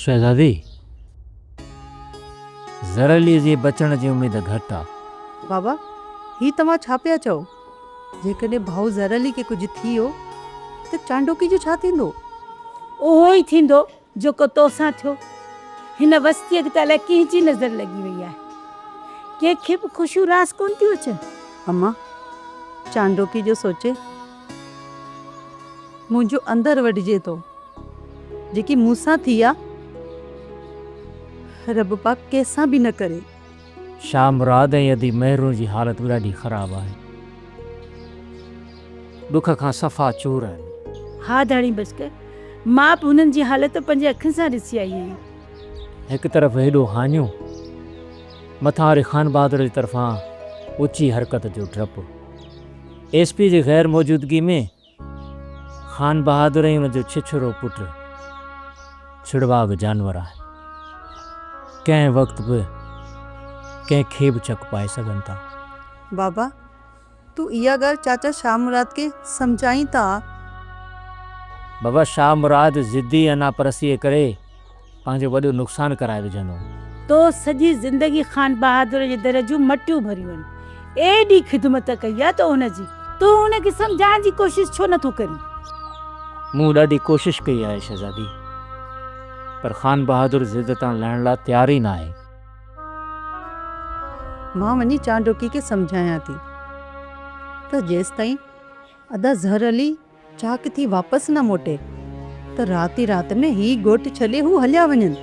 شهزادي! زرعليء جي بچڻ جي اميد گهٽ آ. بابا! هي توهان ڇا پيا چئو؟ جيڪڏهن ڀائو زرعلي کي ڪجهه ٿي ويو ته چانڊوڪي جو ڇا ٿيندو؟ اهو ئي ٿيندو جيڪو تو سان ٿيو. هن وستيء کي ته الائي ڪنهن جي نظر لڳي وئي آهي. ڪنهن کي به خوشيون راس ڪونه ٿيون اچن. امان! چانڊوڪي جو سوچي منهنجو اندر وڍجي ٿو. جيڪي مون سان ٿي آ. رب پاڪ ڪنهن سان به نه ڪري. شاهه مراد ۽ ادي مهرون جي حالت به ڏاڍي خراب آهي. ڏک کان صفا چور آهن. ها ڌڻي بشڪ مان به هنن جي حالت پنهنجي اکين سان ڏسي آئي آهيان. هڪ طرف هيڏو هاڃو. مٿان وري خانبهادر جي طرفان اچي حرڪت جو ڊپ. ايس پي جي غير موجودگي ۾ خان بهادر ۽ ان جو ڇڇرو پٽ ڇڙواڳ جانور آهن. ڪنهن وقت به ڪنهن کي به چڪ پائي سگهن ٿا. بابا تون اها ڳالهه چاچا شاهه مراد کي سمجهائين ٿا. بابا شاهه مراد ضدي انا پرستيء ڪري پنهنجو وڏو نقصان ڪرائي وجهندو. تو سڄي زندگي خان بهادر جي در جون مٽيون ڀريون آهن. ايڏي خدمت ڪئي آهي تو ان جي. تون ان کي سمجهائڻ جي ڪوشش ڇو نه ٿو ڪرين؟ مون ڏاڍي ڪوشش ڪئي آهي شهزادي. پر خان بهادر ضد تان لهڻ لاء تيار ئي ناهي. مان وڃي چانڊوڪي کي سمجهايان ٿي ته جيستائين ادا ظهر علي. چاڪ ٿي واپس نه موٽي ته رات ئي رات ۾ هي ڳوٺ ڇڏي هو هليا وڃن.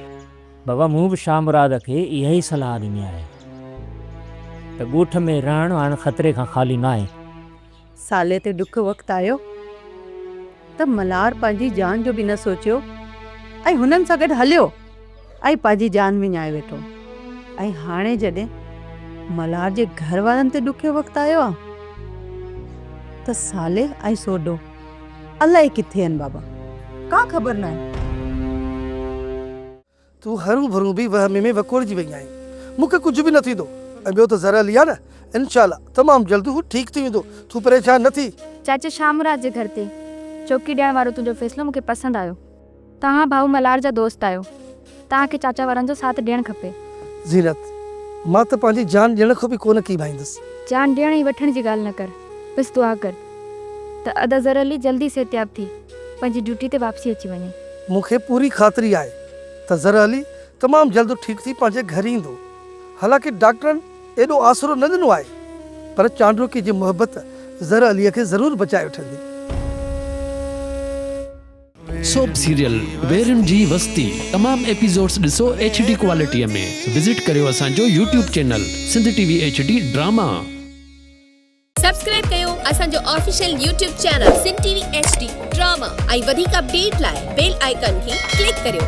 بابا مون به شاهه مراد کي اها ئي صلاح ڏني آهي ته ڳوٺ ۾ رهڻ هاڻ خطري کان خالي ناهي. سالي تي ڏک وقت آيو ته ملهار پنهنجي جان جو به نه سوچيو ۽ هنن سان گڏ هليو. ۽ پنهنجي جان وڃائي ويٺو ۽ هاڻي جڏهن ملهار جي گهر وارن تي ڏکيو وقت آيو آ ته صالح ۽ سوڍو الائي ڪٿي آهن بابا ڪا خبر ناهي. تون هرون ڀرون به وهم ۾ وڪوڙجي وئي آهين مون کي ڪجهه به نه ٿيندو ۽ ٻيو ته زرعلي آ نه انشاء الله تمام جلد هو ٺيڪ ٿي ويندو تون پريشان نه ٿي. چاچي شام راز جي گهر تي چوڪي ڏيڻ وارو تنهنجو فيصلو مون کي پسند آيو. توهان ڀائو ملهار جا دوست آهيو توهان کي چاچا وارن جو ساٿ ڏيڻ کپي. زينت، مان ته پنهنجي جان ڏيڻ کان به ڪونه ڪيٻائيندس. جان ڏيڻ ۽ وٺڻ جي ڳالهه نه ڪر بس دعا ڪر ته ادا ظهر علي جلدي صحتياب ٿي پنهنجي ڊيوٽي تي واپسي اچي وڃي. مون کي پوري خاطري آهي ته ظهر علي تمام جلد ٺيڪ ٿي پنهنجي گهر ايندو حالانڪه ڊاڪٽرن ايڏو آسرو نه ڏنو آهي پر چانڊوڪي جي محبت ظهر علي کي ضرور بچائي وٺندي. سوپ سيريل ويرن جي وستي تمام ايپيزوڊس ڏسو ايڇ ڊي ڪوالٽي ۾ وزٽ ڪريو اسان جو YouTube channel Sindh T V H D drama. Subscribe ڪيو اسان جو official YouTube channel Sindh T V H D drama ۽ وڌيڪ اپڊيٽ لاء بيل آئيڪان کي ڪلڪ ڪريو.